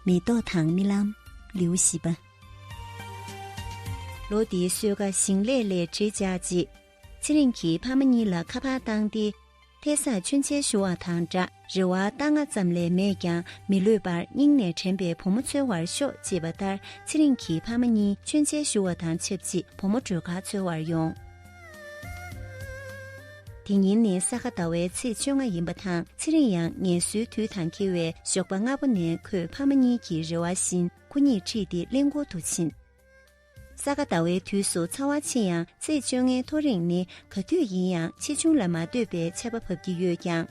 མེ་ཏོག་དང་རྨི་ལམ་ལེའུ་བཞི་པ། ལོ་དེའི་བསོད་ཁ་ཞིང་ལས་ལས་བྲེལ་བཅག་རྗེས། ཚེ་རིང་གིས་ཕ་མ་གཉིས་ལ་ཁ་པར་བཏང་སྟེ། ཐད་སར་མཆོད་མཇལ་ཞུ་བ་དང་འདྲ་རེ་བ་རྟ་རྔ་ཙམ་ལས་མེད་ཀྱང་མི་ལུས་པར་སྙིང་ནས་དྲན་པའི་བུ་མོ་འཚོལ་བར་ཤོག་ཅེས་པ་ལྟར་ཚེ་རིང་གིས་ཕ་མ་གཉིས་མཆོད་མཇལ་ཞུ་བ་དང་ཆབས་ཅིག་བུ་མོ་སྒྲོལ་དཀར་འཚོལ་བར་ཡོང། དེ་ཉིན་ནི་ས་ག་ཟླ་བའི་ཚེས་བཅོ་ལྔ་ཡིན་པ་དང་ཚེ་རིང་ཡང་ངལ་གསོའི་དུས་དང་འཁེལ་བས་ཞོགས་པ་སྔ་པོ་ནས་ཁོས་ཕ་མ་གཉིས་ཀྱི་རེ་བ་བཞིན་ཁོ་གཉིས་ཁྲིད་དེ་གླིང་སྐོར་དུ་ཕྱིན། ས་ག་ཟླ་བའི་དུས་སུ་ཚ་བ་ཆེ་ཡང་ཚེས་བཅོ་ལྔའི་ཐོ་རེངས་ནི་ག་དུས་ཡིན་ཡང་ཆེ་ཆུང་ལ་མ་ལྟོས་པའི་ཆད་པ་བབས་ཀྱི་ཡོད་ཀྱང།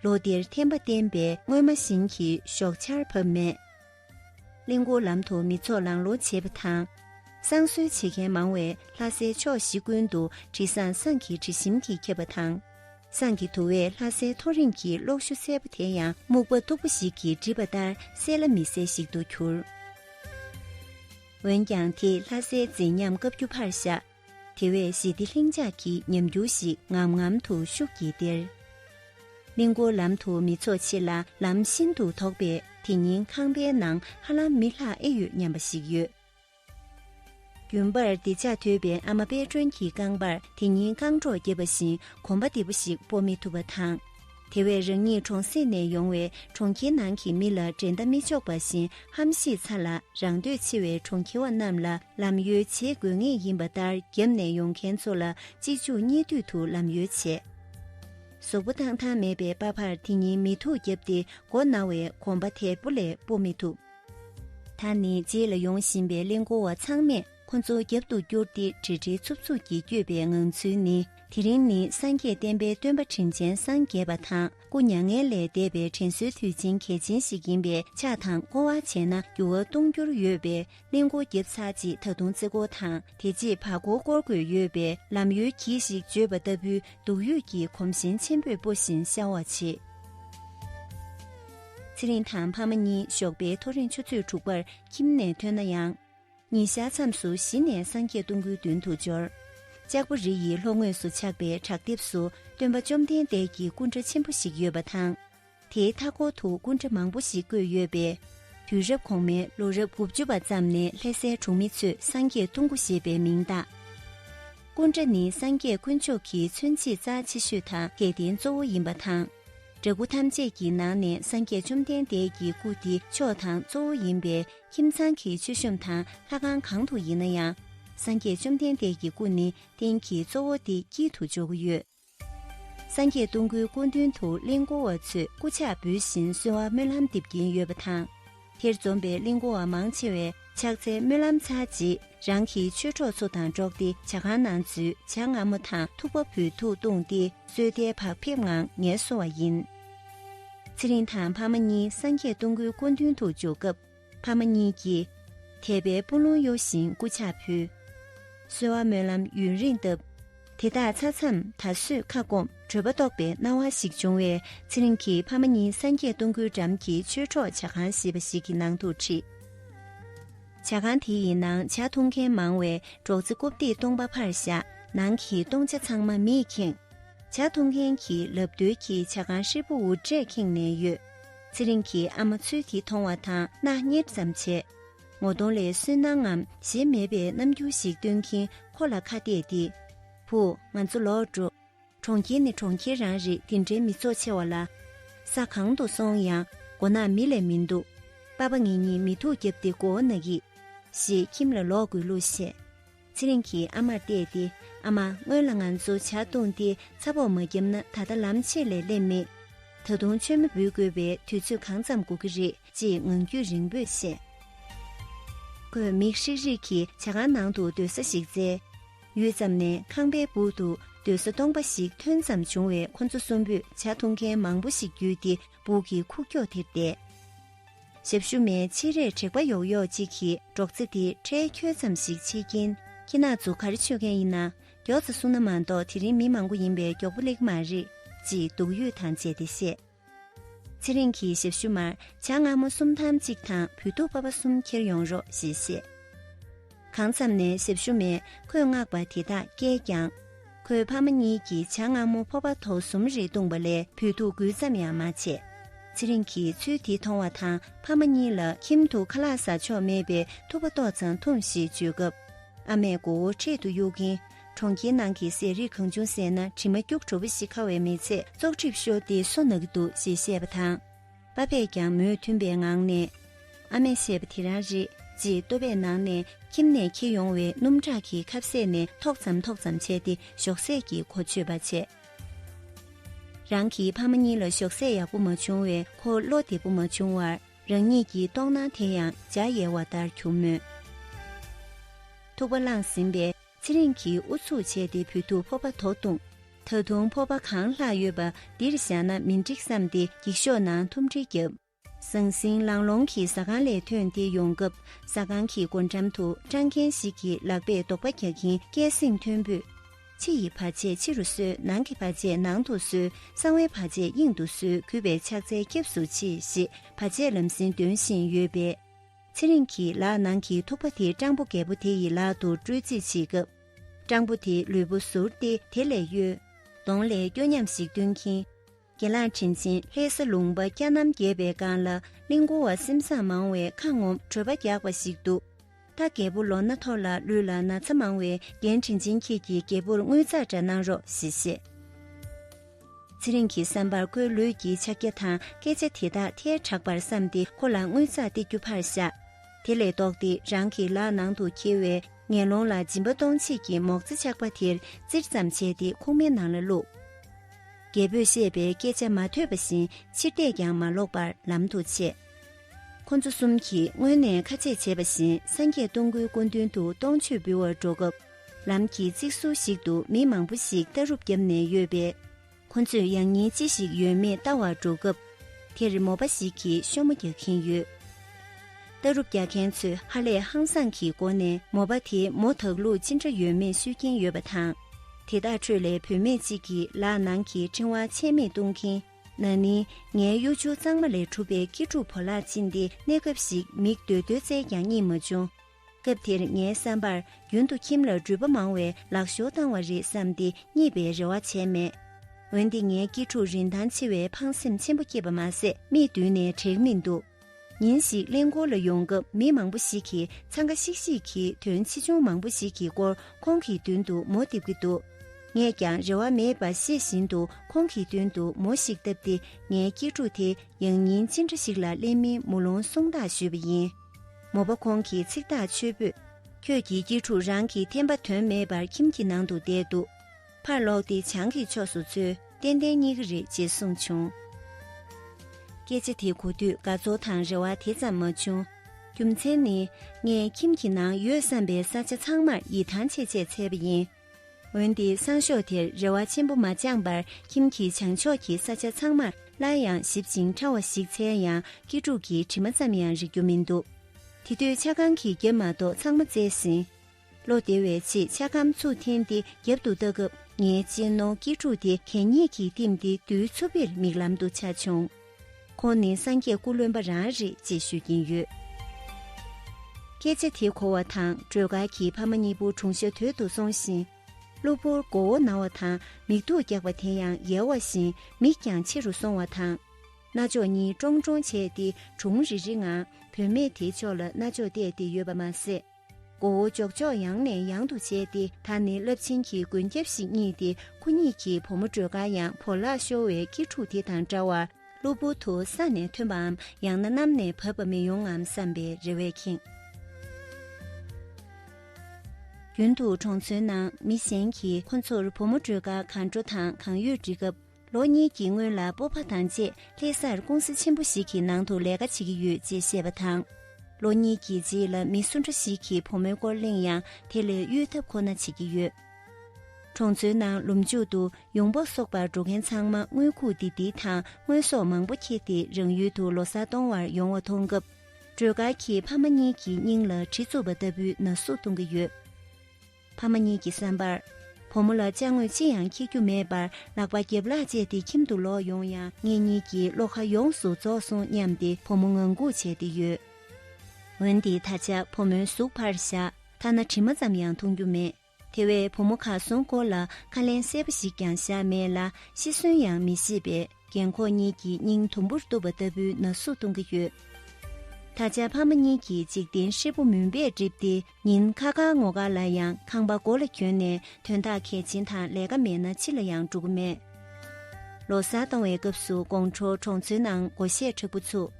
ལོ་འདིར་ཐན་པ་བསྟན་པས་སྔོན་མ་བཞིན་གྱི་ཞོགས་ཆར་བབས་མེད། གླིང་སྐོར་ལམ་དུ་མི་ཚོགས་ལང་ལོང་བྱེད་པ་དང། བསང་གསོལ་བྱེད་མཁན་མང་བས་ལྷ་སའི་ཕྱོགས་བཞི་ཀུན་ཏུ་དྲི་བཟང་ཟངས་ཀྱི་དྲི་ཞིམ་གྱིས་ཁེབས་པ་དང། ཟངས་ཀྱི་དུ་བས་ལྷ་སའི་མཐོ་རིམ་གྱི་གློག་ཞུ་སེར་པོ་དེ་ཡང་སྨུག་པ་སྟུག་པོ་ཞིག་གིས་བསྒྲིབས་པ་ལྟར་གསལ་ལ་མི་གསལ་ཞིག་ཏུ་གྱུར། འོན་ཀྱང་དེས་ལྷ་སའི་མཛེས་ཉམས་བཀའ་བརྒྱུད་ཕར་བཞག་དེ་བས་ཞི་བདེ་ལྷིང་འཇགས་ཀྱི་ཉམས་འགྱུར་ཞིག་ངམ་ངམ་དུ་ཤུགས་ཀྱིས་སྟེར། གླིང་སྐོར་ལམ་དུ་མི་ཚོགས་ཆེ་ལ་ལམ་ཤིན་ཏུ་དོག་པས་དེ་ཉིན་ཁང་པའི་ནང་ཧ་ལམ་མི་ལྷག་ཨེ་ཡོད་སྙམ་པ་ཞིག་ཡོད། རྒྱུན་པར་བདེ་ལྕག་དོད་པའི་ཨ་མ་དཔལ་སྒྲོན་གྱི་རྐང་པར་དེ་ཉིན་རྐང་སྒྲོག་བརྒྱབ་པ་བཞིན་གོམ་པ་བདེ་པོ་ཞིག་སྤོ་མི་ཐུབ་པ་དང། དེ་བས་རང་ཉིད་གྲོང་གསེབ་ནས་ཡོང་བའི་གྲོང་ཁྱེར་ནང་གི་མི་ལ་འགྲན་ཟླ་མི་ཆོག་པ་བཞིན་ཧམ་ཤེད་ཚ་ལ་རང་འདོད་ཆེ་བའི་གྲོང་ཁྱེར་བ་རྣམས་ལ་ལམ་ཡོལ་བྱེད་དགོས་ངེས་ཡིན་པ་ལྟར་རྒྱབ་ནས་ཡོང་མཁན་ཚོ་ལ་གཅིག་འཇུག་གཉིས་བསྡུས་དུ་ལམ་ཡོལ་བྱས། ཟོག་པོ་ཐང་ཐང་མེད་པའི་དཔའ་བར་དེ་ཉིད་མི་ཐུག་བརྒྱབ་སྟེ་མགོ་ན་བའི་གོམ་པ་དལ་པོ་ལས་སྤོ་མི་ཐུབ། ད་ནི་རྗེས་ལ་ཡོང་བཞིན་པའི་གླིང་སྒོ་བ་ཚང་མས། ཁོ་ཚོ་རྒྱབ་ཏུ་བསྐྱུར་ཏེ་བྲེལ་བྲེལ་འཚུབ་འཚུབ་ཀྱིས་བསྐྱོད་པའི་ངང་ཚུལ་ནི་དེ་རིང་ནི་སངས་རྒྱས་བསྟན་པའི་སྟོན་པ་དྲིན་ཅན་སངས་རྒྱས་པ་དང་སྐུ་མྱ་ངན་ལས་འདས་པའི་དྲན་གསོའི་དུས་ཆེན་གལ་ཆེན་ཞིག་ཡིན་པས་ཕྱག་དང་བསྐོར་བ་བྱས་ན་འགྱུར་བ་གཏོང་རྒྱུར་ཡོད་པས་གླིང་སྒོ་བརྒྱབ་ཚར་རྗེས་ད་དུང་རྩེ་སྒོ་དང་དེ་རྗེས་བར་སྒོ་བསྐོར་དགོས་ཡོད་པས་ལམ་ཡོལ་གྱིས་ཤིག་བརྗོད་པ་ལྟ་བུའི་སྡུག་ཡུས་ཀྱིས་གོམ་ཞེང་ཆེན་པོས་སྤོ་བཞིན་ཤྭ་བ་བྱེད། ཚེ་རིང་དང་ཕ་མ་གཉིས་ཞོགས་པའི་ཐོ་རེངས་ཆུ་ཚོད་དྲུག་པར་ཁྱིམ་ནས་ཐོན་ན་ཡང། ཉིན་ཞག་མཚམས་སུ་གཞི་ནས་སངས་རྒྱས་སྟོང་སྐུའི་མདུན་དུ་འབྱོར། ལྕགས་པོ་རི་ཡི་ལྷོ་ངོས་སུ་ཆགས་པའི་བྲག་ལྡེབས་སུ་སྟོན་པ་བཅོམ་ལྡན་འདས་ཀྱི་སྐུ་འདྲ་ཆེན་པོ་ཞིག་ཡོད་པ་དང། དེའི་མཐའ་སྐོར་དུ་སྐུ་འདྲ་མང་པོ་ཞིག་བརྐོས་ཡོད་པས། དུས་རབས་གོང་མའི་ལོ་རབས་དགུ་བཅུ་བ་ཙམ་ནས་ལྷ་སའི་གྲོང་མི་ཚོས་སངས་རྒྱས་སྟོང་སྐུ་ཞེས་པའི་མིང་བཏགས། སྐུ་འདྲ་ནི་སངས་རྒྱས་དཀོན་མཆོག་གི་མཚོན་བྱེད་རྩ་ཆེ་ཤོས་དང་སྐལ་ལྡན་གཙོ་བོ་ཡིན་པ་དང། འདྲ་སྐུ་ཐམས་ཅད་ཀྱི་ནང་ནས་སངས་རྒྱས་བཅོམ་ལྡན་འདས་ཀྱི་སྐུ་འདི་མཆོག་དང་གཙོ་བོ་ཡིན་པས་ཁྱིམ་ཚང་གི་མཆོད་གཤོམ་དང་ལྷ་ཁང་གང་དུ་ཡིན་ན་ཡང། སངས་རྒྱས་བཅོམ་ལྡན་འདས་ཀྱི་སྐུ་ནི་རྟེན་གྱི་གཙོ་བོ་སྟེ་དཀྱིལ་དུ་འཇོག་གི་ཡོད། སངས་རྒྱས་སྟོང་སྐུའི་སྐུ་མདུན་དུ་གླིང་སྐོར་བ་ཚོས་སྐུ་ཕྱག་འབུལ་བཞིན་གསོལ་བ་སྨོན་ལམ་འདེབས་ཀྱིན་ཡོད་པ་དང། དེར་འཛོམས་པའི་གླིང་སྐོར་བ་མང་ཆེ་བས་ཕྱག་འཚལ་སྨོན་ལམ་ཚར་རྗེས་རང་གི་ཆོས་གྲོགས་ཚོ་དང་འགྲོགས་ཏེ་བྱ་ཁང་ནང་འཛུལ་བྱ་རྔ་མོ་དང་ཐུག་པ་བུ་ཐུག་བཏུངས་ཏེ་སོས་དལ་བག་ཕེབས་ངང་ངལ་གསོ་བ་ཡིན། ཚེ་རིང་དང་ཕ་མ་གཉིས་སངས་རྒྱས་སྟོང་སྐུའི་སྐུ་མདུན་དུ་འཇོག་སྐབས་ཕ་མ་གཉིས་ཀྱིས། དད་པའི་སྤུ་ལོང་གཡོ་བཞིན་སྐུ་ཕྱག་ཕུལ། གསོལ་བ་སྨོན་ལམ་ཡུན་རིང་བཏབ། དེ་དག་ཚར་མཚམས་ད་གཟོད་ཁ་སྐོམ་བྲོད་པ་རྟོགས་པའི་སྣང་བ་ཞིག་བྱུང་བས་ཚེ་རིང་གིས་ཕ་མ་གཉིས་སངས་རྒྱས་སྟོང་སྐུའི་འགྲམ་གྱི་ཆོས་གྲོགས་བྱ་ཁང་ཞེས་པ་ཞིག་གི་ནང་དུ་ཁྲིད། བྱ་ཁང་དེ་ཡི་ནང་བྱ་འཐུང་མཁན་མང་བས་སྒྲོག་ཙེ་རྐུབ་སྟེགས་སྟོང་པ་ཕར་བཞག་ནང་གི་སྟོང་ཆ་ཚང་མ་མིས་ཁེངས། བྱ་འཐུང་མཁན་གྱིས་ལབ་བརྡོལ་གྱིས་བྱ་ཁང་ཧྲིལ་པོ་འུར་སྒྲས་ཁེངས་ནས་ཡོད། ཚེ་རིང་གིས་ཨ་མ་ཚུལ་གྱིས་མཐོང་བ་དང་སྣ་གཉེར་ཙམ་བྱས། ངོ་གདོང་ལས་སུན་སྣང་ངམ་གཞན་མེད་པའི་རྣམ་འགྱུར་ཞིག་སྟོན་གྱིན་ཁོ་ལ་ཁ་གཏད་དེ། བུ། ང་ཚོ་ལོག་འགྲོ། གྲོང་ཁྱེར་ནི་གྲོང་ཁྱེར་རང་རེད་འདི་འདྲའི་མི་ཚོགས་ཆེ་བ་ལ། ས་གང་དུ་སོང་ཡང་མགོ་ནག་མི་ལས་མི་འདུག། པ་པ་ངེད་གཉིས་མི་ཐུག་བརྒྱབ་སྟེ་མགོ་བོ་ནག་གིས། ཞེས་ཁྱིམ་ལ་ལོག་དགོས་ལུགས་བཤད། ཚེ་རིང་གིས་ཨ་མར་བལྟས་ཏེ་ཨ་མ་སྔོན་ལ་ང་ཚོ་བྱ་བཏུང་སྟེ་ཚ་བོགས་མ་བརྒྱབ་ན་ད་ལྟ་ལམ་ཕྱེད་ལས་སླེབས་མེད། ད་དུང་མཆོད་མེ་འབུལ་དགོས་པའི་དུས་ཚོད་གང་ཙམ་འགོར་གྱི་རེད་ཅེས་ངང་རྒྱུད་རིང་པོས་བཤད། ཁོས་མིག་ཧྲིག་ཧྲིག་གིས་བྱ་ཁང་ནང་དུ་སྡོད་ས་ཞིག་བཙལ། ཡུད་ཙམ་ནས་ཁང་པའི་སྦུག་ཏུ་སྡོད་ས་སྟོང་པ་ཞིག་ཐོན་ཙམ་བྱུང་བས་ཁོ་ཚོ་གསུམ་པོས་བྱ་འཐུང་མཁན་མང་པོ་ཞིག་བརྒྱུད་དེ་སྦུག་གི་ཁུག་ཀྱོག་དེར་བསྡད། ཞབས་ཞུ་མའི་ཕྱི་རས་དྲེག་པ་ཡོག་ཡོག་ཅིག་གིས་སྒྲོག་ཙེ་དེ་ཁྲལ་འཁྱོལ་ཙམ་ཞིག་བྱེད་ཀྱིན། ཁྱེད་ནག་འཛུགས་ག་རེ་ཆོད་མཁན་ཡིན་ན་མགྱོགས་ཙེ་གསུང་ན་མ་གཏོགས་དེ་རིང་མི་མང་པོ་ཡིན་པས་མགྱོགས་པོ་ལེགས་མ་རེད། ཅེས་སྡུག་ཡུས་དང་བཅས་ཏེ་བཤད། ཚེ་རིང་གིས་ཞབས་ཞུ་མར་བྱ་རྔ་མོ་གསུམ་ཐམ་གཅིག་དང་བུ་སྡུག་པ་པ་གསུམ་འཁྱེར་ཡོང་རོགས་ཞེས་བཤད། གང་ཙམ་ནས་གཟེབ་ཞོ་མས་ཁོས་མངགས་པ་དེ་དག་བསྐྱལ་ཀྱང། ཁོའི་ཕ་མ་གཉིས་ཀྱིས་བྱ་རྔ་མོ་ཕོར་པ་ཐོག་གསུམ་རེ་བཏུངས་པ་ལས་བུད་ཐུག་དགོས་ཙམ་ཡང་མ་བྱས། ཚེ་རིང་གིས་ཚུལ་དེ་མཐོང་བ་དང་ཕ་མ་གཉིས་ལ་ཁྱིམ་དུ་ཁ་ལག་ཟ་ཆོག་མེད་པའི་ཐུག་པ་ཏོག་ཙམ་འཐུང་ཞེས་བརྗོད་སྐབས། ཨ་མས་མགོ་བོ་འཕྲེད་དུ་གཡུག་གིན། གྲོང་ཁྱེར་ནང་གི་ཟས་རིགས་གང་བྱུང་བཟས་ན་དྲི་མ་སྐྱུག་བྲོ་བོ་ཞིག་ཁ་བའི་མི་ཚེ་བཙོག་གྲིབ་ཤོར་ཏེ་སོ་ནག་གི་འདུག་ཅེས་བཤད་པ་དང། པ་པས་ཀྱང་མོས་མཐུན་པའི་ངང་ནས། ཨ་མས་བཤད་པ་དེ་རང་རེད་ཅེས་ལྟོ་བས་ནང་ནས་ཁྱིམ་ནས་འཁྱིལ་ཡོང་བའི་སྣུམ་ཁྲག་གི་ཁབ་ཟས་ནས་ཐོག་ཙམ་ཐོག་ཙམ་བྱས་ཏེ་ཞོགས་ཟས་ཀྱི་གོ་ཆོད་པ་བྱས། རང་གི་ཕ་མ་གཉིས་ལ་ཞོགས་ཟས་ཡག་པོ་མ་བྱུང་བས་ཁོ་བློ་བདེ་པོ་མ་བྱུང་བར་རང་ཉིད་ཀྱི་ལྟོགས་སྣང་དེ་ཡང་འཇའ་ཡལ་བ་ལྟར་གྱུར་མོད། ཐུག་པ་བླངས་ཟིན་པས་ཚེ་རིང་གིས་ཨུ་ཚུགས་བྱས་ཏེ་བུ་ཐུག་ཕོར་པ་དོག་བཏུངས། ད་དུང་ཕོར་པ་གང་ལྷག་ཡོད་པ་འདིར་བཞག་ན་མི་འགྲིག་བསམ་སྟེ་འགྱིག་ཤོག་ནང་ཐུམ་སྒྲིལ་བརྒྱབ། ཟང་ཟིང་ལང་ལོང་གིས་ཟ་ཁང་ལས་ཐོན་ཏེ་ཡོང་སྐབས་ཟ་ཁང་གི་སྒོ་འགྲམ་དུ་སྤྲང་མཁན་ཞིག་གིས་ལག་པས་རྡོག་པ་རྒྱག་གིན་སྐད་གསེང་མཐོན་པོས། ཕྱི་ཡི་བར་ཆད་ཕྱི་རུ་གསོལ་ནང་གི་བར་ཆད་ནང་དུ་གསོལ་གསང་བའི་བར་ཆད་དབྱིངས་དུ་གསོལ་གུས་པའི་ཕྱག་འཚལ་སྐྱབས་སུ་མཆི་ཞེས་བར་ཆད་ལམ་སེང་འདོན་བཞིན་ཡོད་པས། ཚེ་རིང་གིས་ལག་ནང་གི་ཐུག་པ་དེ་སྤྲང་པོ་རྒད་པོ་དེ་ཡི་ལག་ཏུ་སྤྲོད་རྩིས་བྱེད་སྐབས། སྤྲང་པོ་དེ་ལུས་པོ་ཟུར་ཏེ་དེ་ལས་གཡོལ། གདོང་ལས་སྐྱོ་ཉམས་ཤིག་སྟོན་གྱིན། དགེ་བླངས་དྲིན་ཆེན་ལྷའི་ས་ལུང་པ་སྐྱ་ནམ་རྒྱས་པའི་སྒང་ལ་གླིང་བུ་བ་སེམས་བཟང་མང་བས་ཁ་ངོམ་བྲོད་པ་རྒྱག་པ་ཞིག་འདུག་ད་རྒད་པོ་ལོ་ན་མཐོ་ལ་ལུས་ལ་ན་ཚ་མང་བས་རྒན་དྲིན་ཆེན་ཁྱེད་ཀྱིས་རྒད་པོར་དངུལ་རྩ་འདྲ་གནང་རོགས་ཞེས་བཤད། ཚེ་རིང་གི་བསམ་པར་ཁོའི་ལུས་ཀྱི་ཕྱག་རྒྱ་དང་སྐད་ཆ་དེ་དག་ཐལ་དྲགས་པར་བསམས་ཏེ་ཁོ་ལ་དངུལ་རྩག་སྟེ་རྒྱུ་ཕར་བཞག། དེ་ལས་ལྡོག་སྟེ་རང་གི་ལག་ནང་དུ་འཁྱིལ་བའི་ངན་ལོང་ལ་སྦྱིན་པ་གཏོང་བྱེད་ཀྱི་མོག་རྩེ་ཆག་པ་དེར་བཙིར་ཙམ་བྱས་ཏེ་ཁུག་མའི་ནང་ལ་བླུགས། རྒྱལ་པོས་བཤད་པའི་སྐད་ཆ་མ་ཐོས་པ་བཞིན་ཕྱིར་བལྟས་ཀྱང་མ་ལོག་པར་ལམ་དུ་ཆས། ཁོ་ཚོ་གསུམ་གྱིས་སྔོན་ནས་ཁ་ཆད་བྱས་པ་བཞིན་སངས་རྒྱས་སྟོང་སྐུའི་སྐུ་མདུན་དུ་སྟོང་མཆོད་འབུལ་བར་འགྲོ་སྐབས། ལམ་གྱི་རྩིག་བཟོ་ཞིག་ཏུ་མི་མང་པོ་ཞིག་ལྟ་རུབ་བརྒྱབ་ནས་ཡོད་པས། ཁོ་ཚོས་ཡང་སྙིང་ཅི་ཞིག་ཡོད་མེད་ལྟ་བར་འགྲོ་སྐབས། དེར་མོ་པ་ཞིག་གིས་ཤོ་མོ་རྒྱག་གིན་ཡོད། ལྟ་རུབ་རྒྱག་མཁན་ཚོས་ཧ་ལས་ཧང་སངས་ཀྱི་སྒོ་ནས་མོ་པ་དེས་མོ་དག་ལུག་ཅི་འདྲ་ཡོད་མེད་ཤོད་ཀྱིན་ཡོད་པ་དང། དེ་དག་ཁྲོད་ལས་བུད་མེད་ཅིག་གིས་ལག་ནང་གི་ཕྲེང་བ་ཆད་མེད་བཏུང་གིན། ན་ནིང་ངའི་གཡོ་ཆུ་གཙང་མ་ལས་གྲུབ་པའི་སྐྱིད་སྒྲུབ་བོ་ལགས་ཕྱིན་ཏེ་གནས་སྐབས་ཤིག་མིག་རྡོལ་རྡོལ་བཙལ་ཀྱང་གཉིད་མ་བྱུང། སྐབས་དེར་ངའི་བསམ་པར་རྒྱུན་དུ་ཁྱིམ་ལ་འགྲུལ་པ་མང་བས་ལག་ཞོར་བཏང་བ་རེད་བསམ་སྟེ་གཉིད་པའི་རེ་བ་བྱས་མེད། འོན་ཏེ་ངའི་སྐྱིད་ཕྲུག་རིན་ཐང་ཆེ་བས་ཕངས་སེམས་ཆེན་པོ་སྐྱེས་པ་མ་ཟད་མིག་མདུན་ནས་བྲེག་མི་འདུག་ཉིན་ཞིག་གླིང་སྐོར་ལ་ཡོང་སྐབས་མི་མང་པོ་ཞིག་གིས་འཚང་ཁ་ཤིག་ཤིག་གིས་དོན་ཆེ་ཆུང་མང་པོ་ཞིག་གི་སྐོར་ཁོང་གི་མདུན་དུ་མོ་བཏེབས་ཀྱི་འདུག་ངས་ཀྱང་རེ་བ་མེད་པ་ཤེས་བཞིན་དུ་ཁོང་གི་མདུན་དུ་མོ་ཞིག་བཏབ་སྟེ་ངའི་སྐྱིད་ཕྲུག་དེ་ཡང་ཉིན་ཅི་འདྲ་ཞིག་ལ་གླེང་མིན་མོ་ལུང་གསུངས་དག་ཞུས་པ་ཡིན། མོ་པ་ཁོང་གིས་ཚིག་ཐག་ཆོད་པོས། ཁྱོད་ཀྱི་སྐྱིལ་ཕྲུག་རང་གི་འཐེན་པ་དོན་མེད་པར་ཁྱིམ་གྱི་ནང་དུ་བསྡད་འདུག་ཕར་ལོག་སྟེ་བྱང་གི་ཕྱོགས་སུ་ཚུད་ཏན་ཏན་རྙེད་ཀྱི་རེད་ཅེས་གསུངས་བྱུང། སྐད་ཆ་དེ་གོ་དུས་དགའ་ཚོར་དང་རེ་བ་དེ་ཙམ་མ་བྱུང། རྒྱུ་མཚན་ནི་ངས་ཁྱིམ་གྱི་ནང་ཡོད་བསམ་པའི་ས་ཆ་ཚང་མར་ཡིད་ཐང་ཆད་ཆད་བྱས་པ་ཡིན། འོན་ཏེ་སང་ཞོགས་དེར་རེ་བ་ཆེན་པོ་མ་བཅངས་པར་ཁྱིམ་གྱི་བྱང་ཕྱོགས་ཀྱི་ས་ཆ་ཚང་མར་སླར་ཡང་ཞིབ་ཅིང་ཕྲ་བ་ཞིག་འཚལ་ཡང་སྐྱིད་ཕྲུག་གི་དྲི་མ་ཙམ་ཡང་རིག་རྒྱུ་མི་འདུག་དེ་དུས་ཆ་ཁང་གི་རྒྱབ་མ་གཏོགས་ཚང་མ་བཙལ་ཟིན། ལོ་དེ་བའི་ཆེད་ཆ་ཁམ་ཚུགས་འཐེན་ཏེ་རྒྱབ་ཏུ་བལྟ་སྐབས་ངའི་གཅེན་ནོ་སྐྱིད་ཕྲུག་དེ་གད་སྙིགས་ཀྱིས་བསྟིམས་ཏེ་རྡུལ་འཚུབ་བེར་མིག་ལམ་དུ་འཆར་བྱུང། ཁོང་ནི་སངས་རྒྱས་སྐུ་ལོན་པ་རང་རེད་ཅེས་ཤོད་ཀྱིན་ཡོད། སྐད་ཆ་དེ་གོ་བ་དང་སྒྲོལ་དཀར་གྱི་ཕ་མ་གཉིས་པོ་གྲུང་ཤ་དོད་དུ་སོང་ཞིང། གློ་བུར་མགོ་བོ་ན་བ་དང་མིག་སྡུག་རྒྱག་པ་དེ་ཡང་ཡལ་བ་བཞིན་མིག་ཀྱང་ཕྱི་རུ་སོང་བ་དང། རྣ་ཅོག་གཉིས་ཀྲོང་ཀྲོང་བྱས་ཏེ་གྲུང་རི་རི་ངང་བུད་མེད་དེའི་ཕྱོགས་ལ་རྣ་ཅོག་གཏད་དེ་ཡོད་པ་མ་ཟད། མགོ་བོ་ལྕོག་ལྕོག་ཡང་ནས་ཡང་དུ་བྱས་ཏེ་ད་ནི་རླབས་ཆེན་གྱི་མགོན་སྐྱབས་ཤིག་རྙེད་དེ་ཁོ་གཉིས་ཀྱིས་བུ་མོ་སྒྲོལ་དཀར་ཡང་བོར་བརླག་ཤོར་བའི་སྐྱིད་ཕྲུག་དེ་དང་འདྲ་བར་གློ་བུར་དུ་ས་ནས་ཐོན་པའམ་ཡང་ན་གནམ་ནས་བབས་པ་མི་ཡོང་ངམ་བསམ་པའི་རེ་བས་ཁེངས། རྒྱུན་དུ་གྲོང་ཚོའི་ནང་མི་གཞན་གྱིས་ཁོ་ཚོར་བུ་མོ་སྒྲོལ་དཀར་གང་འགྲོ་དང་གང་ཡོད་འདྲི་སྐབས། ལོ་གཉིས་ཀྱི་སྔོན་ལ་སྤོབས་པ་དང་བཅས་ལྷེ་སར་ཀུང་ཟི་ཆེན་པོ་ཞིག་གི་ནང་དུ་ལས་ཀ་བྱེད་ཀྱི་ཡོད་ཅེས་བཤད་པ་དང། ལོ་གཉིས་ཀྱི་རྗེས་ལ་མི་སུ་འདྲ་ཞིག་གིས་བུ་མོའི་སྐོར་གླེང་ཡང་དེ་ལས་གཡོལ་ཐབས་ཁོ་ན་བྱེད་ཀྱི་ཡོད། གྲོང་ཚོའི་ནང་ལུམ་མཇུག་ཏུ་ཡོང་འབབ་གསོག་པར་འགྲོ་མཁན་ཚང་མ་དངུལ་ཁུག་ལྡིར་ལྡིར་དང་དངོས་ཟོག་མང་པོ་འཁྱེར་ཏེ་རང་ཡུལ་དུ་ལོ་སར་གཏོང་བར་ཡོང་བ་མཐོང་སྐབས། སྒྲོལ་དཀར་གྱིས་ཕ་མ་གཉིས་ཀྱི་སྙིང་ལ་གྲི་བཙུགས་པ་ལྟ་བུའི་ན་ཟུག་གཏོང་གི་ཡོད། ཕ་མ་གཉིས་ཀྱི་བསམ་པར། བུ་མོ་ལ་བཅའ་དངོས་ཅི་ཡང་འཁྱེར་རྒྱུ་མེད་པར་ལག་པ་རྒྱབ་ལག་བཅད་དེ་ཁྱིམ་དུ་ལོག་ཡོང་ཡང་ངེད་གཉིས་ཀྱི་བློ་ཁ་ཡོངས་སུ་རྫོགས་སོང་སྙམ་སྟེ་བུ་མོ་ངང་སྒུག་བྱས་ཏེ་ཡོད། འོན་ཏེ་ད་ཆ་བུ་མོའི་གཟུགས་ཕར་བཞག་ཐ་ན་དྲི་མ་ཙམ་ཡང་མཐོང་རྒྱུ་མེད། དེ་བས་བུ་མོ་གར་སོང་སྐོར་ལ་ཁ་ལན་གསལ་པོ་ཞིག་ཀྱང་བཞག་མེད་ལ་ཤི་གསོན་ཡང་མི་ཤེས་པས་རྒན་འཁོགས་གཉིས་ཀྱི་སྙིང་དུམ་བུར་གཏུབ་པ་ལྟ་བུའི་ན་ཟུག་གཏོང་གི་ཡོད། ད་ཆ་ཕ་མ་གཉིས་ཀྱིས་འཇིག་རྟེན་ཧྲིལ་པོ་མུན་པས་བསྒྲིབས་ཏེ། ཉིན་ཁ་ཁ་ངོ་དགའ་ལ་ཡང་ཁང་པ་སྒོ་ལ་གྱོན་ནས་དོན་དག་གལ་ཆེན་དང་ལས་ཀ་མེད་ན་ཕྱི་ལ་ཡང་འགྲོ་གི་མེད། ལོ་གསར་གཏོང་བའི་སྐབས་སུ་དགོང་དྲོ་གྲོང་ཚོའི་ནང་སྒོ་གཞས་འཁྲབ་པོ་ཚུགས།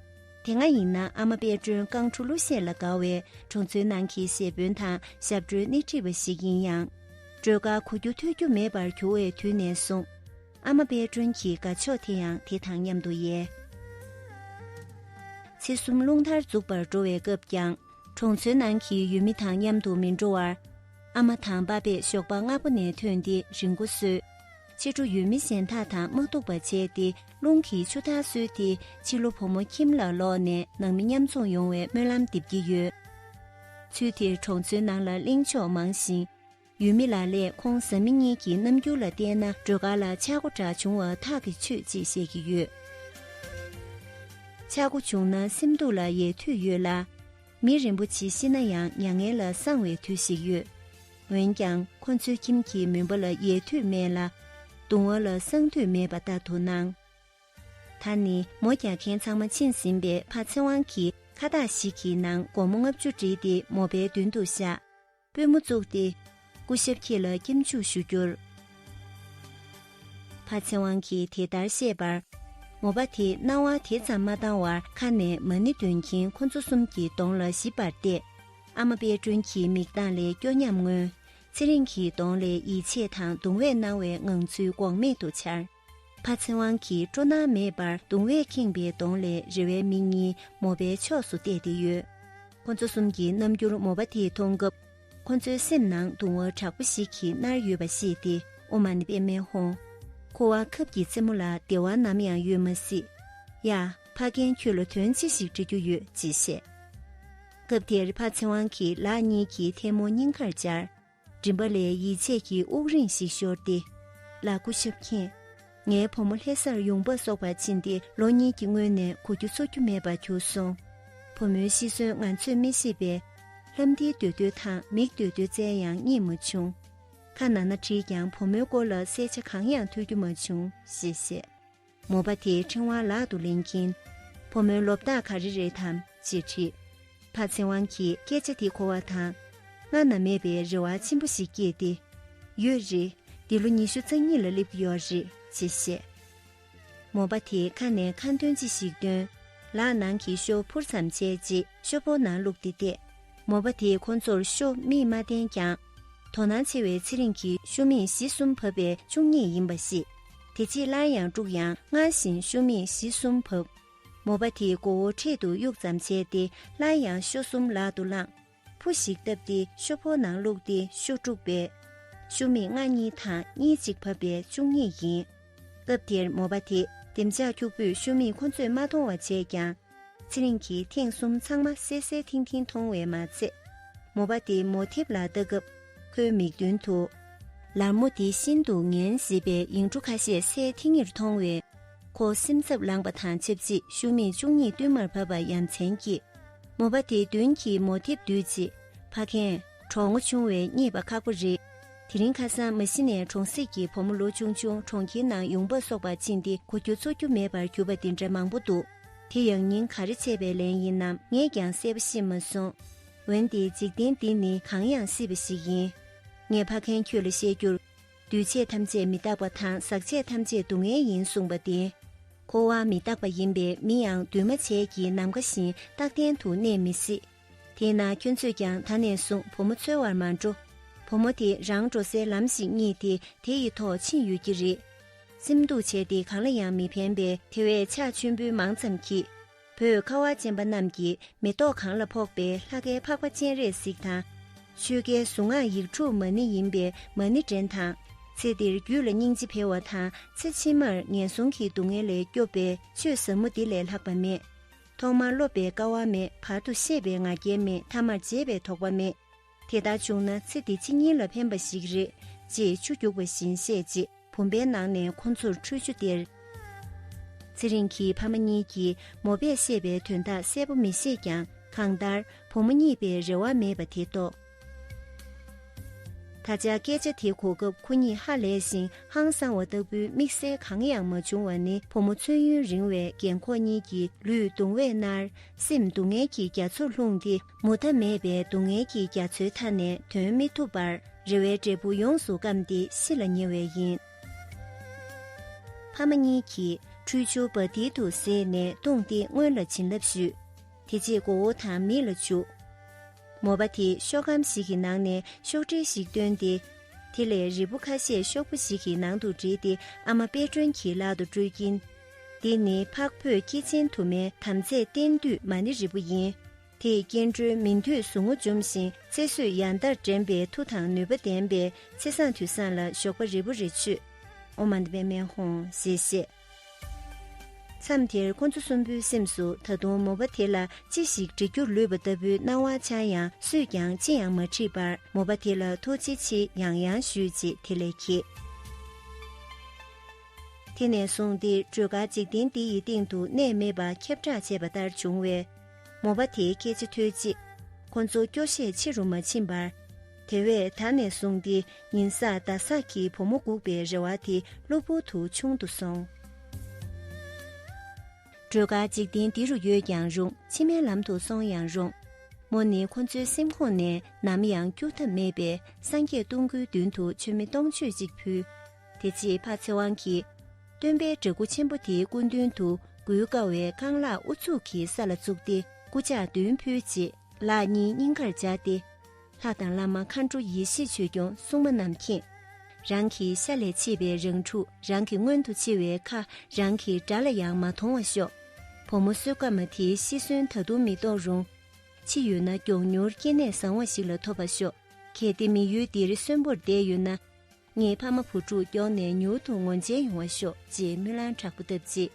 དེ་སྔ་ཡིན་ན་ཨ་མ་དཔལ་སྒྲོན་རྐང་འཁྲུ་གླུ་གཞས་ལ་དགའ་བའི་གྲོང་ཚོའི་ནང་གི་གཞས་དཔོན་དང་ཞབས་བྲོའི་སྣེ་ཁྲིད་པ་ཞིག་ཡིན་ཡང། སྒྲོལ་དཀར་གོ་རྒྱུ་ཐོས་རྒྱུ་མེད་པར་གྱུར་བའི་དུས་ནས་བཟུང། ཨ་མ་དཔལ་སྒྲོན་གྱི་དགའ་ཕྱོགས་དེ་ཡང་དེ་དང་མཉམ་དུ་ཡལ། ཚེ་གསུམ་རླུང་ལྟར་འཛུགས་པར་འགྲོ་བའི་སྐབས་ཀྱང། གྲོང་ཚོའི་ནང་གི་ཡུལ་མི་དང་མཉམ་དུ་མི་འགྲོ་བར། ཨ་མ་དང་པ་པས་ཞོགས་པ་སྔ་པོ་ནས་ཐོན་ཏེ་རི་མགོ་བཟོས། ཕྱི་དྲོ་ཡུལ་མི་གཞན་དག་དང་དམག་འཐུག་པ་བྱས་ཏེ་རླུང་གིས་ཆུ་འཐག་བཟོས་ཏེ་ཕྱི་ལོ་བུ་མོ་ཁྱིམ་ལ་ལོག་ནས་ནང་མི་མཉམ་འཛོམས་ཡོང་བའི་སྨོན་ལམ་འདེབས་ཀྱི་ཡོད། ཚུལ་དེར་གྲོང་ཚོའི་ནང་ལ་གླེང་ཕྱོགས་མང་ཞིང། ཡུལ་མི་ལ་ལས་ཁོང་བཟའ་མི་གཉིས་ཀྱི་རྣམ་འགྱུར་ལ་བལྟས་ན་སྒྲོལ་དཀར་ལ་ཆག་སྒོ་འདྲ་བྱུང་བ་ཐག་གིས་ཆོད་ཅེས་བཤད་ཀྱི་ཡོད། ཆག་སྒོ་བྱུང་ན་སེམས་སྡུག་ལ་ཡལ་དུས་ཡོད་ལ། མི་རིན་པོ་ཆེ་ཤི་ན་ཡང་མྱ་ངན་ལ་གསང་བའི་དུས་ཤིག་ཡོད། འོན་ཀྱང་ཁོ་ཚོའི་ཁྱིམ་གྱི་མུན་པ་ལ་ཡལ་དུས་མེད་ལ། གདུང་བ་ལ་གསང་དུས་མེད་པ་ལྟར་དུ་སྣང། ད་ནི་མོ་རྒྱག་མཁན་ཚང་མ་ཕྱིན་ཟིན་པས་ཕ་ཚེ་དབང་གིས་ཁ་བཏགས་ཤིག་གི་ནང་སྒོར་མོ་ལྔ་བཅུ་བསྒྲིལ་ཏེ་མོ་པའི་མདུན་དུ་བཞག། པུས་མོ་བཙུགས་ཏེ། སྐུ་ཞབས་ཁྱེད་ལ་སྐྱབས་འཇུག་ཞུ་རྒྱུར། ཕ་ཚེ་དབང་གིས་དེ་ལྟར་བཤད་པར། མོ་པ་དེས་སྣང་བ་དེ་ཙམ་མ་བཏང་བར་ཁ་ནས་མ་ཎི་འདོན་གྱིན་ཁོ་ཚོ་གསུམ་གྱི་གདོང་ལ་ཞིབ་པར་བལྟས། ཨ་མ་དཔལ་སྒྲོན་གྱི་མིག་མདངས་ལས་སྐྱོ་ཉམས་མངོན། ཚེ་རིང་གི་གདོང་ལས་ཡིད་ཆེས་དང་གདུང་བས་སྣང་བའི་ངང་ཚུལ་འགོག་མེད་དུ་འཆར། ཕ་ཚེ་དབང་གིས་སྤྲོ་སྣང་མེད་པར་གདུང་བས་ཁེངས་པའི་གདོང་ལས་རེ་བའི་མིག་གཉིས་མོ་པའི་ཕྱོགས་སུ་གཏད་དེ་ཡོད། ཁོ་ཚོ་གསུམ་གྱི་རྣམ་འགྱུར་མོ་པ་དེ་མཐོང་སྐབས། ཁོ་ཚོའི་སེམས་ནང་གདུང་བ་དྲག་པོ་ཞིག་གིས་མནར་ཡོད་པ་ཤེས་ཏེ་ཨོ་མ་ནི་དཔེ་མེད་ཧོང། ཁོ་བ་ཁབ་ཀྱི་རྩེད་མོ་ལ་བདེ་བ་ནམ་ཡང་ཡོད་མ་སྲིད། ཡ། ཕ་རྒན་ཁྱོད་ལ་དོན་ཅི་ཞིག་འདྲི་རྒྱུ་ཡོད་ཅེས་བཤད། སྐབས་དེར་ཕ་ཚེ་དབང་གིས་ལག་གཉིས་ཀྱིས་ཐལ་མོ་སྙིང་ཁར་སྦྱར། མགྲིན་པ་ལས་ཡིད་ཆད་ཀྱི་དབུགས་རིང་ཞིག་ཤོར་ཏེ། ལ་སྐུ་ཞབས་མཁྱེན། ངའི་བུ་མོ་ལྷས་སར་ཡོང་འབབ་གསོག་པར་ཕྱིན་ཏེ་ལོ་གཉིས་ཀྱི་སྔོན་ནས་གོ་རྒྱུ་འཚོ་རྒྱུ་མེད་པར་གྱུར་སོང། བུ་མོའི་ཤི་གསོན་ང་ཚོས་མི་ཤེས་པས། ལྷམ་འདིའི་མདོས་བསྟོད་དང་མིག་བསྟོད་བསྟོད་རྩལ་ཡང་རྙེད་མ་བྱུང། ཁ་ན་ན་བྲིས་ཀྱང་བུ་མོའི་སྐོར་ལ་གསལ་ཆ་གང་ཡང་ཐོས་རྒྱུ་མ་བྱུང་ཞེས་བཤད། མོ་པ་དེའི་ཕྲེང་བ་ལག་ཏུ་ལེན་གྱིན། ཕོ་མོའི་ལོ་བདག་ག་རེ་རེད་དམ་ཅེས་དྲིས། ཕ་ཚེ་དབང་གིས་སྐད་ཆ་དེ་གོ་བ་དང། སྔར་ན་མེད་པའི་རེ་བ་ཆེན་པོ་ཞིག་སྐྱེས་ཏེ། ཡོད་རེད། འདི་ལོ་ཉི་ཤུ་རྩ་གཉིས་ལ་སླེབས་ཀྱི་ཡོད་རེད་ཅེས་བཤད། མོ་པ་དེས་ཁ་ནས་ཁ་འདོན་ཅི་ཞིག་བཏོན། ལག་ནང་གི་ཤོག་བུར་མཚམས་བཅད་རྗེས་ཤོག་བུ་ནང་བླུགས་ཏེ་བསྡད། མོ་པ་དེས་ཁོ་ཚོར་ཤོག་མིག་མ་བསྟན་ཀྱང། དོ་སྣང་ཆེ་བའི་ཚེ་རིང་གི་ཤོ་མིག་བཞི་གསུམ་བབས་པའི་བཅུ་གཉིས་ཡིན་པ་ཤེས། དེ་རྗེས་སླར་ཡང་དཀྲུགས་ཡང་སྔར་བཞིན་ཤོ་མིག་བཞི་གསུམ་བབས། མོ་པ་དེས་མགོ་བོ་འཕྲེད་དུ་གཡུག་ཙམ་བྱས་ཏེ་སླར་ཡང་ཤོ་གསུམ་ལག་ཏུ་བླངས། ཕུ་ཞིག་བཏབ་སྟེ་ཤོ་ཕོ་ནང་བླུགས་ཏེ་ཤོ་དཀྲུགས་པས། ཤོ་མིག་ལྔ་གཉིས་དང་གཉིས་གཅིག་བབས་པའི་བཅུ་གཉིས་ཡིན། སྐབས་དེར་མོ་པ་དེས་ལྡེམ་ལྕག་འཁྱུག་པོས་ཤོ་མིག་ཁོ་ཚོས་མ་མཐོང་བ་བྱས་ཀྱང། ཚེ་རིང་གིས་ཐེངས་གསུམ་ཚང་མ་གསལ་གསལ་ཐིང་ཐིང་མཐོང་བས་མ་ཚད། མོ་པ་དེ་མོ་འཐིབ་ལ་ལྟ་སྐབས་ཁོའི་མིག་མདུན་དུ། ལར་མོ་དེ་ཤིན་ཏུ་ངན་བཟི་བའི་ཡིག་འབྲུ་ཁ་ཤས་གསལ་ཐིང་ངེར་མཐོང་བས། ཁོ་སེམས་འཚབ་ལངས་པ་དང་ཆབས་ཅིག་ཤུགས་མེད་བཅུ་གཉིས་བསྟུད་མར་བབས་པ་ཡ་མཚན་སྐྱེས། མོ་པ་དེ་མདུན་གྱི་མོ་འཐིབ་འདུས་རྗེས་ཕ་ཁེན། གྲོགས་ངོ་ཆུང་བས་རྙེད་པ་ཁག་པོ་རེད། དེ་རིང་ཁ་སང་མ་ཤི་ནས་གྲོང་གསེབ་ཀྱི་བུ་མོ་ལོ་ཆུང་ཆུང་གྲོང་ཁྱེར་ནང་ཡོང་འབབ་གསོག་པར་ཕྱིན་ཏེ་གོ་རྒྱུ་འཚོ་རྒྱུ་མེད་པར་གྱུར་པ་དེ་འདྲ་མང་པོ་འདུག་དེ་ཡང་ཉིན་ག་རེ་ཆད་པའི་ལན་ཡིན་ནམ་ངས་ཀྱང་གསལ་པོ་ཤེས་མ་སོང། འོན་ཏེ་འཇིག་རྟེན་འདི་ནི་གང་ཡང་སྲིད་པ་ཞིག་ཡིན། ངས་ཕ་མཁན་ཁྱོད་ལ་བཤད་རྒྱུར། འདུས་བྱས་ཐམས་ཅད་མི་རྟག་པ་དང་ཟག་བཅས་ཐམས་ཅད་སྡུག་བསྔལ་ཡིན་གསུངས་པ་བདེན། འཁོར་བ་མི་རྟག་པ་ཡིན་པས་མི་ཡང་འདུས་མ་བྱས་ཀྱི་ནམ་མཁའ་བཞིན་རྟག་བརྟན་དུ་གནས་མི་སྲིད། དེས་ན་ཁྱོད་ཚོས་ཀྱང་ད་ནས་བཟུང་བུ་མོ་འཚོལ་བར་མ་འགྲོ། བུ་མོ་དེ་རང་འགྲོ་སའི་ལམ་ཞིག་རྙེད་དེ་དེ་ཡི་ཐོག་ཕྱིན་ཡོད་ཀྱི་རེད། སེམས་སྡུག་བྱས་ཏེ་གང་ལ་ཡང་མི་ཕན་པའི་དེ་བས་ཕྱག་མཆོད་འབུལ་མང་ཙམ་གྱིས། བོད་ཁ་བ་ཅན་པ་རྣམས་ཀྱིས་མེ་ཏོག་གང་ལ་ཕོག་པའི་ལྷ་ཁའི་འཕགས་པ་སྤྱན་རས་གཟིགས་དང། ཆོས་ཁའི་གཟུངས་སྔགས་ཡིག་དྲུག་མ་ཎི་ཡིན་པའི་མ་ཎི་འདྲེན་དང། ཚེ་འདིར་རྒྱུད་ལ་སྙིང་རྗེ་འཕེལ་བ་དང་ཚེ་ཕྱི་མར་ངན་སོང་གི་སྡུག་བསྔལ་ལས་སྐྱོབ་པའི་ཆོས་ཟབ་མོ་འདི་ལས་ལྷག་པ་མེད། ཐོག་མར་སློབ་པའི་དཀའ་བ་མེད་བར་དུ་ཤེས་པའི་ང་རྒྱལ་མེད་མཐའ་མར་བརྗེད་པའི་དོགས་པ་མེད། དེ་ལྟར་བྱུང་ན་ཚེ་འདི་ཕྱི་གཉིས་ལ་ཕན་པ་ཞིག་རེད། ཅེས་ཆུ་རྒྱུགས་པ་བཞིན་བཤད་རྗེས་བུམ་པའི་ནང་ནས་ཁོ་ཚོར་ཁྲུས་ཆུ་སྟེར། ཚེ་རིང་གིས་ཕ་མ་གཉིས་ཀྱིས་མོ་པས་བཤད་པའི་དོན་དག་གསལ་པོ་མི་ཤེས་ཀྱང་གང་ལྟར་བུ་མོ་གཉིས་པས་རེ་བ་མེད་པ་དེ་རྟོགས། ད་ཆ་སྐད་ཆ་དེ་གོ་སྐབས་ཁོ་གཉིས་ཧ་ལས་ཤིང་ཧང་སང་བ་ལྟ་བུའི་དམིགས་བསལ་གང་ཡང་མ་བྱུང་བ་ནི་བུ་མོ་མཚོན་ཡུན་རིང་བའི་རྒན་ཁོ་གཉིས་ཀྱི་ལུས་གདུང་བས་མནར་སེམས་སྡུག་བསྔལ་གྱི་རྒྱ་མཚོར་ལྷུང་སྟེ་མུ་མཐའ་མེད་པའི་སྡུག་བསྔལ་གྱི་རྒྱ་མཚོའི་མཐའ་ནས་དོན་མི་ཐུབ་པར་རེ་བའི་འབྲས་བུ་ཡོངས་སུ་བསྐམས་ཏེ་ཤི་ལ་ཉེ་བས་ཡིན། ཕ་མ་གཉིས་ཀྱིས་ཁྲུས་ཆུ་བ་མདེལ་དུ་བསྲེས་ནས་བཏུང་སྟེ་སྔོན་ལ་བྱིན་རླབས་ཞུས། དེ་རྗེས་མགོ་བོ་དང་མིག་ལ་བྱུགས། མོ་པ་དེས་ཤོག་སྒམ་ཞིག་གི་ནང་ནས་ཤོག་དྲིལ་ཞིག་བཏོན་ཏེ། དེ་ལས་རིལ་བུ་ཁ་ཤས་ཤོག་བུ་ཞིག་གི་ནང་དུ་བསྒྲིལ་ཏེ་ཨ་མ་དཔལ་སྒྲོན་གྱི་ལག་ཏུ་སྤྲོད་ཀྱིན། འདི་ནི་འཕགས་བོད་སྐྱེས་ཆེན་དུ་མའི་དམ་རྫས་བསྟན་འདུས་མ་ཎི་རིལ་བུ་ཡིན། དེས་སྐྱེ་འགྲོའི་མི་མཐུས་ཟུག་རྔུ་འཇོམས་ཤིང་ཚེ་བསོད་ཡང་དག་འདྲེན་པའི་མཐུ་དང་ནུས་པ་ལྡན་པས་ཚེ་བཟང་དུས་བཟང་ལ་ཞོགས་པ་རིལ་བུ་རེ་ཆུད། ཨོ་མཱནྟ་བན་མེན་ཧོང་ཞེས་བཤད། མཚམས་དེར་ཁོ་ཚོ་གསུམ་པོའི་སེམས་སུ་ད་དུང་མོ་པ་དེ་ལ་ཅི་ཞིག་འདྲི་རྒྱུར་ལུས་པ་ལྟ་བུའི་སྣང་བ་འཆར་ཡང་སུས་ཀྱང་ཅི་ཡང་མ་དྲིས་པར་མོ་པ་དེ་ལ་ཐུགས་རྗེ་ཆེ་ཡང་ཡང་ཞུས་རྗེས་དེ་ལས་ཁྱེད། དེ་ནས་བཟུང་སྟེ་སྒྲོལ་དཀར་འཇིག་རྟེན་འདི་ཡི་སྟེང་དུ་གནས་མེད་པ་ཁྱབ་བསྒྲགས་བྱས་པ་ལྟར་བྱུང་བས། མོ་པ་དེའི་སྐད་ཆ་ཐོས་རྗེས། ཁོ་ཚོ་སྐྱོ་ཤས་ཆེ་རུ་མ་ཕྱིན་པར། དེ་བས་ད་ནས་བཟུང་སྟེ་ཉིན་གསར་ཟླ་གསར་གྱི་བུ་མོ་སྒུག་པའི་རེ་བ་དེ་གློ་བུར་དུ་ཆུང་དུ་སོང། སྒྲོལ་དཀར་འཇིག་རྟེན་འདི་རུ་ཡོད་ཀྱང་རུང་ཕྱི་མའི་ལམ་དུ་སོང་ཡང་རུང། མོ་ནི་ཁོ་ཚོའི་སེམས་ཁོང་ནས་ནམ་ཡང་སྐྱུར་ཐབས་མེད་པས་སངས་རྒྱས་སྟོང་སྐུའི་མདུན་དུ་མཆོད་མེ་སྟོང་མཆོད་ཅིག་ཕུལ། དེ་རྗེས་ཕ་ཚེ་དབང་གིས། སྟོན་པའི་འདྲེ་སྐུ་ཆེན་པོ་དེའི་སྐུ་མདུན་དུ་མགུལ་དཀའ་བའི་རྐང་ལག་ཨུ་ཚུགས་ཀྱིས་ས་ལ་བཙུགས་ཏེ་སྐུ་ཕྱག་མདུན་ཕུལ་རྗེས་ལག་གཉིས་སྙིང་གར་སྦྱར་ཏེ། ལྷ་དང་བླ་མ་མཁའ་འགྲོ་ཡེ་ཤེས་ཆོས་སྐྱོང་སྲུང་མ་རྣམས་མཁྱེན། རང་གི་ཤ་ལས་མཆེད་པའི་རང་ཕྲུག་རང་གི་སྔོན་དུ་འཆི་བའི་ཁ་རང་གི་དགྲ་ལ་ཡང་མ་མཐོང་བ་ཤོག། བུ་མོ་བསོད་དཀར་མ་དེའི་ཤི་གསོན་ད་དུང་མི་རྟོགས་རུང། འཆི་ཡོད་ན་མགྱོགས་མྱུར་སྐྱེ་གནས་བཟང་བ་ཞིག་ལ་ཐོབ་པ་ཤོག་གལ་ཏེ་མི་ཡུལ་འདིར་གསོན་པོར་བསྡད་ཡོད་ན། ངའི་ཕ་མ་བུ་ཕྲུག་མགྱོགས་ནས་མྱུར་དུ་ངོ་མཇལ་ཡོང་བ་ཤོག་ཅེས་སྨོན་ལམ་དྲག་པོ་བཏབ་རྗེས།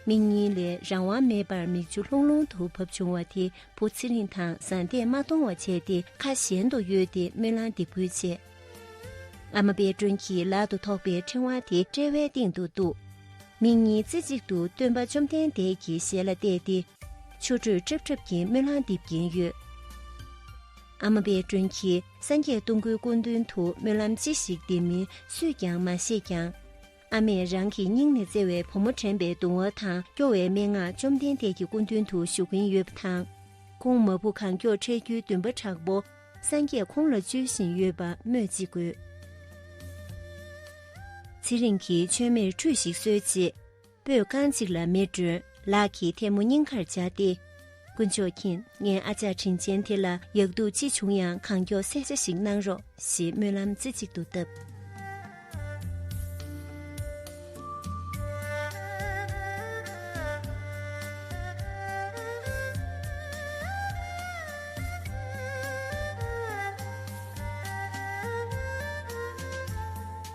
མིག་གཉིས་ལས་རང་དབང་མེད་པར་མིག་ཆུ་ལྷུང་ལྷུང་དུ་བབས་བྱུང་བ་དེ་བུ་ཚེ་རིང་དང་བཟའ་ཟླས་མ་མཐོང་བ་བྱས་ཏེ་ཁ་གཞན་དུ་གཡོལ་ཏེ་སྨོན་ལམ་འདེབས་ཁུལ་བྱས། ཨ་མ་པད་སྒྲོན་གྱིས་ལག་ཏུ་ཐོགས་པའི་ཕྲེང་བ་དེ་དཔྲལ་བའི་སྟེང་དུ་གཏུགས། མིག་གཉིས་རྩེ་གཅིག་ཏུ་སྟོན་པ་བཅོམ་ལྡན་འདས་ཀྱི་ཞལ་ལ་གཏད་དེ། མཆུ་སྒྲོས་ཁྲབ་ཁྲབ་ཀྱིས་སྨོན་ལམ་འདེབས་ཀྱིན་ཡོད། ཨ་མ་པད་སྒྲོན་གྱིས་སངས་རྒྱས་སྟོང་སྐུའི་སྐུ་མདུན་དུ་སྨོན་ལམ་ཅི་ཞིག་འདེབས་མིན་སུས་ཀྱང་མ་ཤེས་ཀྱང། ཨ་མས་རང་གི་སྙིང་ནས་བརྩེ་བའི་བུ་མོ་དྲན་པའི་གདུང་བ་དང་སྐྱོ་བའི་སྨྲེ་སྔགས་བཅོམ་ལྡན་འདས་ཀྱི་སྐུ་མདུན་དུ་ཞུ་གིན་ཡོད་པ་དང། ཁོང་མ་བུ་གང་མགྱོགས་འཕྲད་རྒྱུའི་འདུན་པ་དྲག་པོ་སངས་རྒྱས་ཁོང་ལ་བཅོལ་བཞིན་ཡོད་པ་སྨོས་ཅི་དགོས། ཚེ་རིང་གིས་མཆོད་མེར་ཁྲུས་ཤིག་གསོལ་རྗེས། པོས་རྐང་གཅིག་ལ་མེ་སྒྲོན་ལག་གི་ཐལ་མོ་སྙིང་ཁར་བཅག་སྟེ། དཀོན་མཆོག་མཁྱེན་ངའི་ཨ་ཅག་དྲིན་ཅན་དེ་ལ་ཡག་སྡུག་ཅི་བྱུང་ཡང་གང་མགྱོགས་གསལ་ཆ་ཞིག་གནང་རོགས་ཞེས་སྨོན་ལམ་རྩེ་གཅིག་ཏུ་བཏབ།